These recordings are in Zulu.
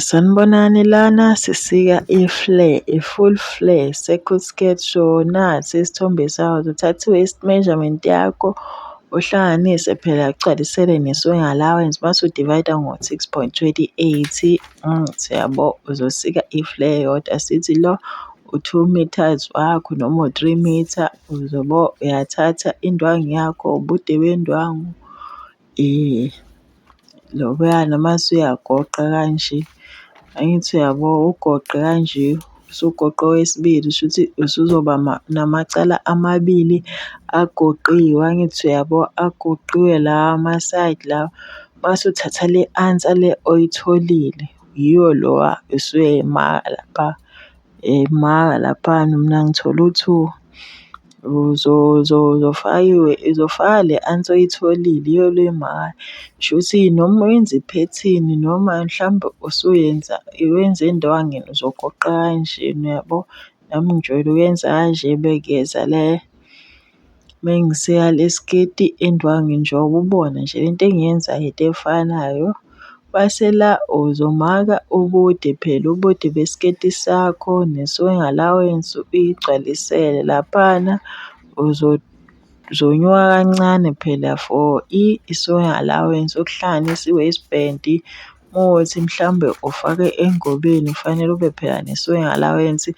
Sanibonani lana sisika i-flare, i-full flare, circle skirt. So, nasi isithombe sayo uthatha i-waist measurement yakho uhlanganise phela ugcwalisele ne-sewing allowance mase u-divide-a ngo-six point twenty eight, siyabo. Uzosika i-flare eyodwa sithi lo u-two metres wakho noma u-three metre, uyabo? Uyathatha indwangu yakho, ubude bendwangu. Loya noma usuyagoqa kanje, angithi uyabo ugoqe kanje, usugoqe owesibili shuthi usuzoba namacala amabili agoqiwe, angithi uyabo agoqiwe lawa ama-side lawa. Uma usuthatha le answer le oyitholile, yiyo lowa usuyayimaka lapha. Eyi maka laphayana mina ngithole u-two uzofaka le answer oyitholile iyolo imali. Shuthi noma wenza iphethini noma mhlawumbe usuwenza wenza endwangini uzogoqa kanjena uyabo. Nami ngijwayele ukuyenza kanje bekuyeza le. Mengiseya le sketi endwangu njengoba ubona nje le nto engiyenzayo into efanayo. Bese la uzomaka ubude phela ubude besiketi sakho ne-swing allowance uyigcwalisele laphana. Uzonyuka kancane phela for i-swing allowance okuhlanganisa i-waist band. Mawuthi mhlawumbe ufake engobeni kufanele ube phela ne-sewing allowance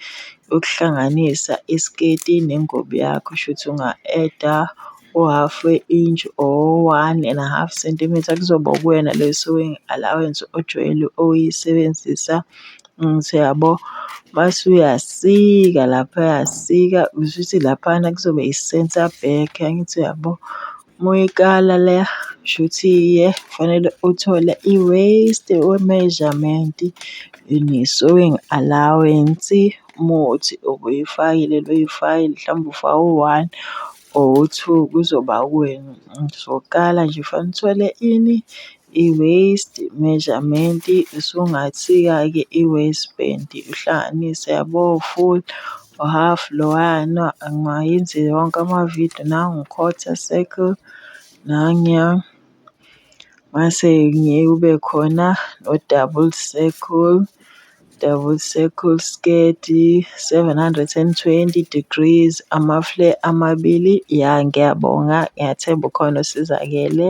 yokuhlanganisa isiketi nengubo yakho. Shuthi unga-add-a u-half we-inch or one and a half sentimitha kuzoba ukuwena leyo sewing allowance ojwayele ukuyisebenzisa. Angithi uyabo? Mase uyasika laphaya sika, kushuthi laphayana kuzobe i-centre back, angithi uyabo? Uma uyikala le shuthi iye kufanele uthole i-waste we-measurement, ne-sewing allowance uma kuwukuthi ubuyifakile leyo fayili mhlawumbe ufake u-one or u-two kuzoba uwena. Sokuqala nje kufanele uthole ini? I-waist measurement usungasika-ke i-waist band uhlanganise yabo u-full, u-half loyana angayenzi wonke amavidiyo nangu u-quarter circle nanguya. Mase ngeke kube khona no-double circle, double circle skirt seven hundred and twenty degrees ama-flare amabili. Ya ngiyabonga, ngiyathemba ukhona osizakele.